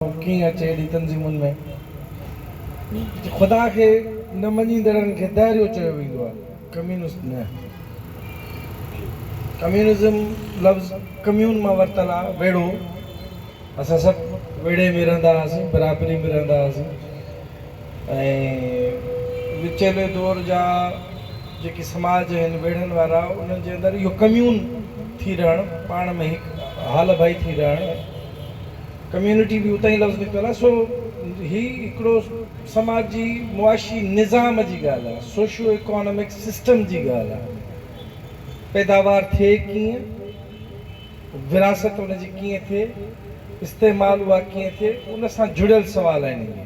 اهو ڪيئن اچي ايڏي تنظيمن ۾. خدا کي نه مڃيندڙن کي دهريو چيو ويندو آهي ڪميونسٽ نه. ڪميونزم لفظ ڪميون مان ورتل آهي ويڙهو اسان سڀ ويڙهي ۾ رهندا هئاسين برابري ۾ رهندا هئاسين ۽ وچيلي دور جا جيڪي سماج آهن ويڙهن وارا انهن جي اندر اهو ڪميون ٿي رهڻ پاڻ ۾ هڪ هال ڀائي ٿي رهڻ ڪميونٽي به اتان ئي لفظ نڪتل آهي، سو هي هڪڙو سماجي معاشي نظام جي ڳالهه آهي، سوشو ايڪانامڪ سسٽم جي ڳالهه آهي، پيداوار ٿئي ڪيئن، وراثت ان جي ڪيئن ٿئي، استعمال اها ڪيئن ٿئي، ان سان جڙيل سوال آهن اهي.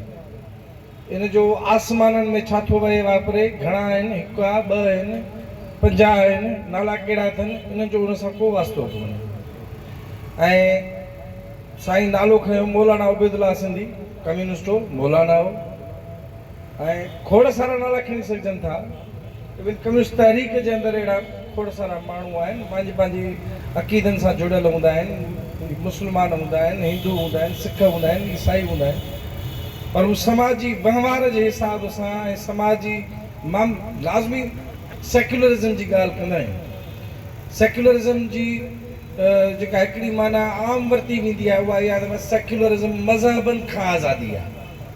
ان جو آسمانن ۾ ڇا ٿو وهي واپري، گهڻا آهن، هڪ آ، ٻه آهن، پنجاهه آهن، نالا ڪهڙا اٿن، انهن جو ان سان ڪو واسطو ڪونهي. ۽ سائين نالو کنيو مولانا عبيدالله سنڌي، ڪميونسٽ هو، مولانا هو ۽ کوڙ سارا نالا کڻي سگهجن ٿا. ايون ڪميونسٽ تحريڪ جي اندر اهڙا کوڙ سارا ماڻهو آهن، پنهنجي پنهنجي عقيدن سان جڙيل هوندا آهن، مسلمان هوندا آهن، هندو هوندا آهن، سک هوندا آهن، عيسائي هوندا آهن، پر هو سماجي وهنوار جي حساب سان ۽ سماجي مام لازمي سيڪيولرزم جي ڳالهه ڪندا آهن. سيڪيولرزم جي جيڪا هڪڙي معنيٰ عام ورتي ويندي آهي اها اها آهي ته سيڪيولرزم مذهبن کان آزادي آهي.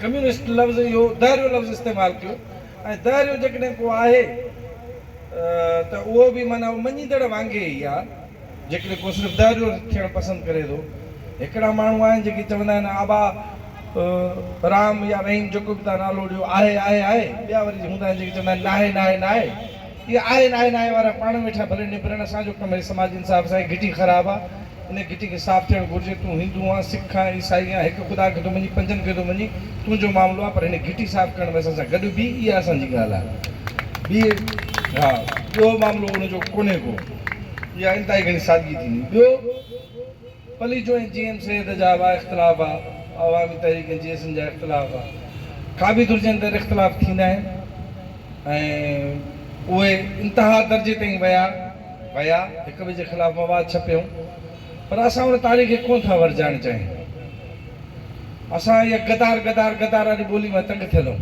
ڪميونسٽ لفظ اهو دهريو لفظ استعمال ڪيو ۽ دهريو جيڪڏهن ڪو آهي ته اهو به معنيٰ اهو مڃيندڙ وانگي ئي آهي جيڪڏهن ڪو صرف دهريو ٿيڻ پسند ڪري ٿو. هڪڙا ماڻهو آهن جيڪي چوندا آهن آبا رام يا رحيم جيڪو به توهان نالو ڏيو آهي آهي آهي ٻيا وري هوندا آهن جيڪي چوندا آهن ناهي ناهي ناهي. اهي آهي ناهي ناهي وارا پاڻ ويٺا ڀلي نبرن اسان جو ڪم هي سماجي انصاف اسان جي گهٽي خراب آ ان گهٽي کي صاف ٿيڻ گهرجي تون هندو آن سک آن عيسائي آن هڪ خدا کي ٿو مڃين پنجن کي ٿو مڃين تنهنجو معاملو آ پر هن گهٽي صاف ڪرڻ ۾ اسان سان گڏ بيهه اها اسان جي ڳالهه آ بيهه ها ٻيو معاملو ان جو ڪونهي ڪو اها انتهائي گهڻي سادگي ٿيندي ٻيو پليجو ۽ جي ايم سيد جا اھا اختلاف ھئا، عوامي تحريڪ ۽ جي ايس اين جا اختلاف ھئا. ڪابي درجي اندر اختلاف ٿيندا آھن ۽ اھي انتھا درجي تائين ويا ويا ھڪ ٻئي جي خلاف مواد ڇپيائون پر اسان ان تاريخ کي ڪونھ ٿا ورجائڻ چاھيون. اسان اھا غدار غدار غدار واري ٻولي مان تنگ ٿيل ھون.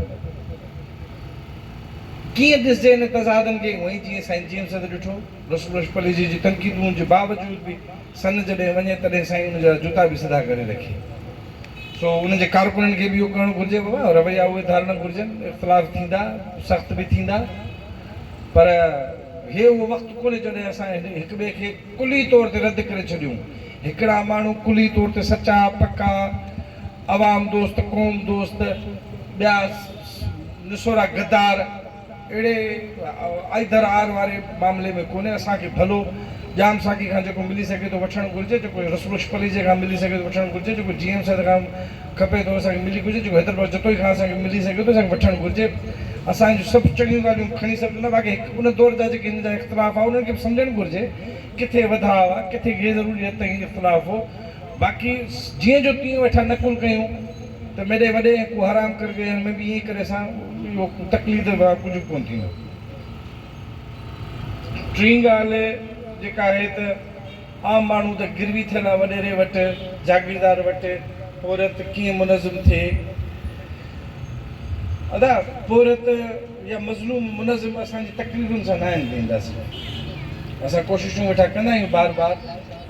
ڪيئن ڏسجي ان تضادن کي اھوئي جيئن سائين جي ايم سيد ڏٺو. رسول بخش پليجي جي تنقيدون جي باوجود به سن جڏهن وڃي تڏهن سائين ان جا جوتا به سڌا ڪري رکي. سو انهن جي ڪارڪنن کي به اهو ڪرڻ گهرجي بابا رويا اهي ڌارڻ گهرجن اختلاف ٿيندا سخت به ٿيندا پر هي اهو وقت ڪونهي جڏهن اسان هڪ ٻئي کي ڪلي طور تي رد ڪري ڇڏيون هڪڙا ماڻهو ڪلي طور تي سچا پڪا عوام دوست قوم دوست ٻيا نسورا غدار اهڙي آئيدر آر واري معاملي ۾ ڪونهي، اسان کي ڀلو ڄام ساقي کان جيڪو ملي سگهي ٿو وٺڻ گهرجي، جيڪو رسبخش پليجي کان ملي سگهي ٿو وٺڻ گهرجي، جيڪو جي ايم سيد کان کپي ٿو اسان کي ملي گهرجي، جيڪو حيدر بخش جتوئي کان اسان کي ملي سگهي ٿو اسان کي وٺڻ گهرجي، اسان جون سڀ چڱيون ڳالهيون کڻي سگهجن ٿا، باقي هڪ ان دور جا جيڪي هن جا اختلاف هئا انهن کي به سمجهڻ گهرجي، ڪٿي وڌاء هئا، ڪٿي غيرضروري حد تائين اختلاف هو، باقي جيئن جو تيئن ويٺا نقل ڪيون. ته ميڏي وڏي ۽ ڪو حرام ڪري ڏيڻ ۾ به ائين ڪري سان اهو تقليد ڀا ڪجهه به ڪونه ٿيندو. ٽين ڳالهه جيڪا آهي ته عام ماڻهو ته گروي ٿيل آ وڏيري وٽ، جاگيردار وٽ، پورهيت ڪيئن منظم ٿئي. ادا پورهيت يا مظلوم منظم اسان جي تقريرن سان ناهن ڪيندا سي. اسان ڪوششون ويٺا ڪندا آهيون بار بار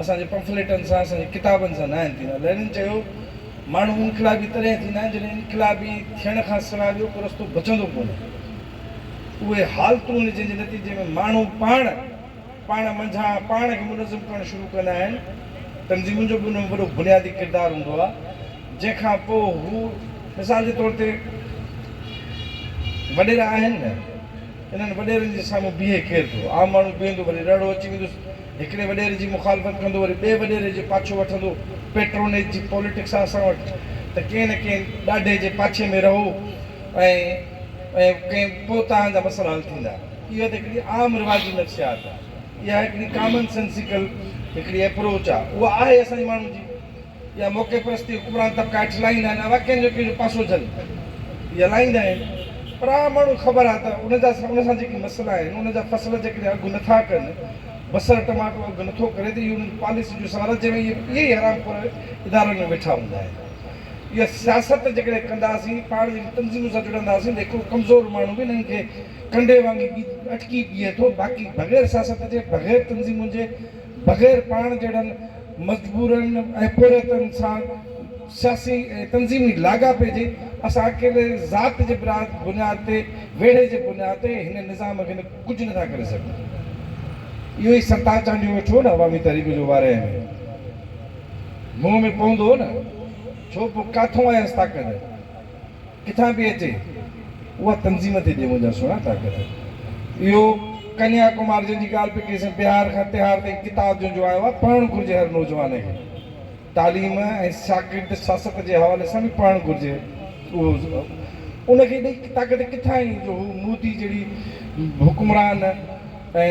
اسان جي پمفليٽن سان اسان جي ڪتابن سان ناهن ٿيندا. لينن چيو. ماڻهو انقلابي تڏهن ٿيندا آهن جڏهن انقلابي ٿيڻ کان سواء ٻيو ڪو رستو بچندو ڪونهي. اهي حالتون جنهن جي نتيجي ۾ ماڻهو پاڻ پاڻ منجهان پاڻ کي منظم ڪرڻ شروع ڪندا آهن، تنظيمن جو به ان ۾ وڏو بنيادي ڪردار هوندو آهي، جنهن کان پوء هو مثال جي طور تي وڏيرا آهن نه، انهن وڏيرن جي سامهون بيهي ڪير ٿو؟ عام ماڻهو بيهندو وري رڙو اچي ويندس. هڪڙي وڏيري جي مخالفت ڪندو وري ٻئي وڏيري جو پاڇو وٺندو، پيٽرونيج جي پوليٽڪس آ اسان وٽ ته ڪنهن نه ڪنهن ڏاڍي جي پاڇي ۾ رهو ۽ ڪنهن پوء توهان جا مسئلا حل ٿيندا. اها ته هڪڙي عام رواجي نفسيات آ. اها هڪڙي ڪامن سينسيڪل هڪڙي ايپروچ آ. اها آهي اسان جي ماڻهن جي. يا موقعي پرستي حڪمران طبقا هيٺ لاهيندا آهن اها ڪنهن جو ڪنهن جو پاسو جهل ۾ هلائيندا آهن پر عام ماڻهو کي خبر آهي ته ان جا ان سان جيڪي مسئلا آهن ان جا فصل جيڪڏهن اگهه نٿا ڪن بصر ٽماٽو اگهه نٿو ڪري ته اهي انهن جي پاليسي جو سوال آهي جنهن ۾ اهي اهي ئي حرام خور ادارن ۾ ويٺا هوندا آهن اها سياست جيڪڏهن ڪنداسين پاڻ جيڪي تنظيمن سان جڙنداسين ته هڪڙو ڪمزور ماڻهو به انهن کي ڪنڊي وانگي اٽڪي بيهي ٿو باقي بغير سياست جي بغير تنظيمن جي بغير پاڻ جهڙن مزدورن ۽ پورهيتن سان سياسي ۽ تنظيمي لاڳاپي جي، اسان اڪيلي ذات جي بنياد تي، ويڙهي جي بنياد تي هن نظام کي ڪجهه نه ٿا ڪري سگهون. اهو ئي ستار چانڊيو ويٺو هو نه عوامي تحريڪ جو وارهيه ۾ منهن ۾ پوندو هو نه، ڇو پوء ڪاٿون آيس طاقت؟ ڪٿان پئي اچي اها تنظيم تي ڏي منهنجا سهڻا طاقت اهو ڪنيا ڪمار جنهن جي ڳالهه پئي ڪئي سين بهار کان تهار تائين ڪتاب جنهن جو آيو آهي پڙهڻ گهرجي هر نوجوان کي تعليم ۽ ساڪريت سياست جي حوالي سان به پڙهڻ گهرجي اهو ان کي ايڏي طاقت ڪٿان آئي جو هو مودي جهڙي حڪمران ۽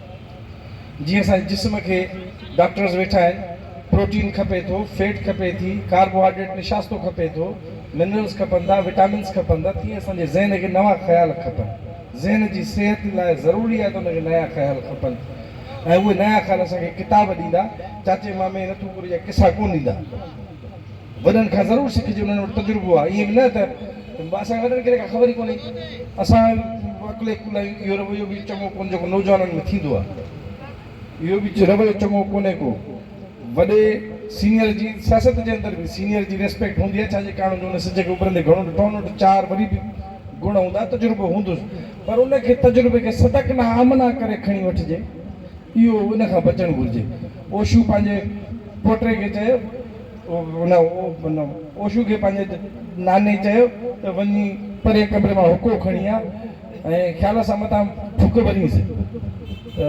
جيئن اسان جي جسم کي ڊاڪٽرز ويٺا آهن پروٽين کپي ٿو فيٽ کپي ٿي ڪاربوهائيڊريٽ نشاستو کپي ٿو منرلز کپن ٿا وٽامنز کپن ٿا تيئن اسان جي ذهن کي نوان خيال کپن ذهن جي صحت لاء ضروري آهي ته ان کي نيا خيال کپن ۽ اهي نيا خيال اسان کي ڪتاب ڏيندا چاچي مامي نٿوپوري جا قصا ڪونه ڏيندا. وڏن کان ضرور سکجي انهن وٽ تجربو آ ائين به نه ته اسان وڏن کي ته ڪا خبر ئي ڪونهي اسان عقل عقل آهيون اهو رويو به چڱو ڪونهي جيڪو نوجوانن ۾ ٿيندو آ اهو به رويو چڱو ڪونهي ڪو وڏي سينئر جي سياست جي اندر به سينئر جي ريسپيڪٽ هوندي آ ڇا جي ڪارڻ جو ان سج کي اڀرندي گهڻو ڏٺو آ ان وٽ چار وري به گڻ هوندا تجربو هوندس پر ان کي تجربي کي صدق نه آمنا ڪري کڻي وٺجي اهو ان کان بچڻ گهرجي اوشو پنهنجي پوٽي کي چيو. هن اوشو کي پنهنجي ناني چيو ته وڃي پرين ڪمري مان حقو کڻي آ ۽ خيال سان متان ڦڪ ڀرينس ته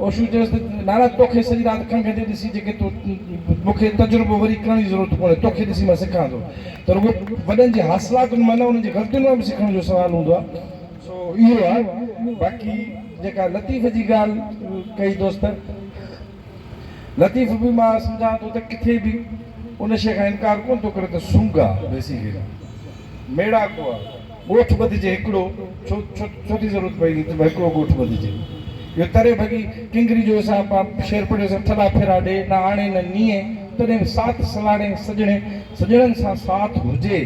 اوشو چيس ته نانا توکي سڄي رات کنگهه تي ڏسي جيڪي تو مون کي تجربو وري ڪرڻ جي ضرورت ڪونهي توکي ڏسي مان سکان ٿو ته رڳو وڏن جي حاصلاتن مان نه انهن جي غلطين مان به سکڻ جو سوال هوندو آ سو اهو آ باقي جيڪا لطيف جي ڳالهه ڪئي دوست لطيف به مان سمجهان ٿو ته ڪٿي به ان شيء کان انڪار ڪونه ٿو ڪري ته سونگا، Basically، ميڙاڪو آهي. ڳوٺ ٻڌجي هڪڙو، ڇو، ڇو، ڇو ٿي ضرورت پئي ته هڪڙو ڳوٺ ٻڌجي. اهو تري ڀڳي ڪنگري جو اسان پان شعر پڙهيو سان ٿڏا ڦيرا ڏي، نه آڻي نه نيئي، تڏهن به ساٿ سلاڙي سڄڻي، سڄڻن سان ساٿ هجي.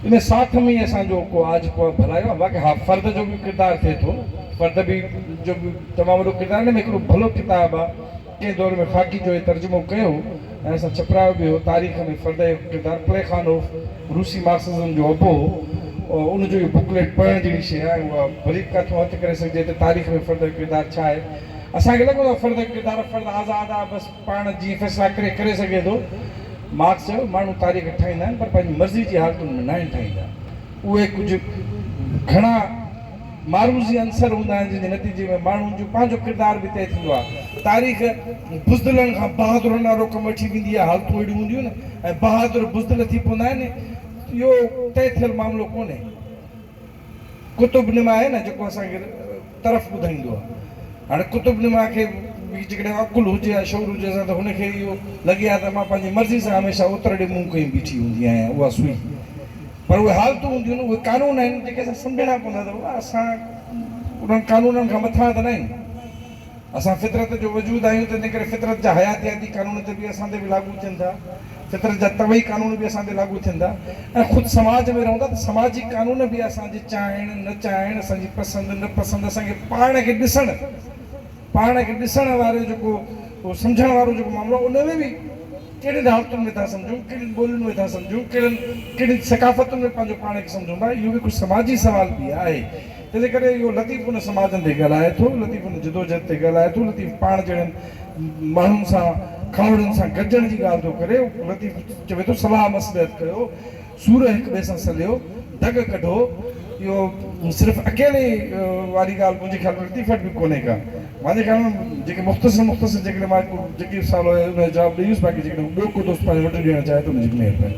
ان ساٿ ۾ ئي اسان جو ڪو آج ڀلايو آهي باقي ها فرد جو به ڪردار ٿئي ٿو نه فرد به جو به تمام وڏو ڪردار آهي ان ۾ هڪڙو ڀلو ڪتاب آهي ڪنهن دور ۾ خاڪي جو هي ترجمو ڪيو هو ۽ اسان ڇپرايو به هو تاريخ ۾ فرد جو ڪردار پليخانوف روسي مارڪسزم جو ابو هو ان جو اهو بڪليٽ پڙهڻ جهڙي شيء آهي ۽ اها وري به ڪاٿون هٿ ڪري سگهجي ٿي تاريخ ۾ فرد جو ڪردار ڇا آهي اسان کي لڳندو آهي فرد جو ڪردار فرد آزاد آهي بس پاڻ جيئن فيصلا ڪري ڪري سگهي ٿو. مارڪس چيو، ماڻهو تاريخ ٺاهيندا آهن پر پنهنجي مرضي جي حالتن ۾ ناهن ٺاهيندا. اهي ڪجهه گهڻا معروضي عنصر هوندا آهن جن جي نتيجي ۾ ماڻهن جو پنهنجو ڪردار به طئي ٿيندو آهي. تاريخ بزدلن کان بهادرن ڏانهن روڪ ۾ وٺي ويندي آهي. حالتون اهڙيون هونديون آهن ۽ بهادر بزدل ٿي پوندا آهن. اهو طئي ٿيل معاملو ڪونهي. قطب نما آهي نه جيڪو اسان کي طرف ٻڌائيندو آهي هاڻي قطب نما کي به جيڪڏهن عقل هجي يا شعور هجي اسان ته هن کي اهو لڳي ها ته مان پنهنجي مرضي سان هميشه اتر ڏي منهن ڪئي بيٺي هوندي آهيان اها سوئي پر اهي حالتون هونديون آهن اهي قانون آهن جيڪي اسان سمجهڻا پوندا ته بابا اسان انهن قانونن کان مٿان ته نه آهيون. اسان فطرت جو وجود آهيون تنهن ڪري فطرت جا حياتياتي قانون تي به اسان تي به لاڳو ٿين ٿا. فطرت جا طبعي قانون به اسان تي لاڳو ٿين ٿا ۽ خود سماج ۾ رهون ٿا ته سماجي قانون به اسان جي چاهڻ نه چاهڻ، اسان جي پسند نه پسند، اسان کي پاڻ کي ڏسڻ، پاڻ کي ڏسڻ وارو جيڪو سمجهڻ وارو جيڪو معاملو آهي ان ۾ به ڪهڙين حالتن ۾ ٿا سمجهون، ڪهڙين ٻولين ۾ ٿا سمجهون، ڪهڙن ڪهڙين ثقافتن ۾ پنهنجو پاڻ کي سمجهون ٿا اهو به هڪ سماجي سوال به آهي. تنهنجي ڪري اهو لطيف ان سماجن تي ڳالهائي ٿو، لطيف ان جدوجهد تي ڳالهائي ٿو، لطيف پاڻ جهڙن ماڻهن سان، کاهوڙن سان گڏجڻ جي ڳالهه ٿو ڪري، لطيف چوي ٿو صلاح مصلحت ڪيو، سور هڪ ٻئي سان سليو، دڳ ڪڍو، اهو صرف اڪيلي واري ڳالهه منهنجي خيال ۾ لطيف وٽ به ڪونهي ڪا، مانجي خيال ۾ جيڪي مختصر مختصر جيڪڏهن مان هڪ جيڪي سوال هيو ان جو جواب ڏئي ويس باقي جيڪڏهن ڪو ٻيو ڪو دوست پنهنجو انٽرويو ڏيڻ چاهي ته ان جي به مهرباني.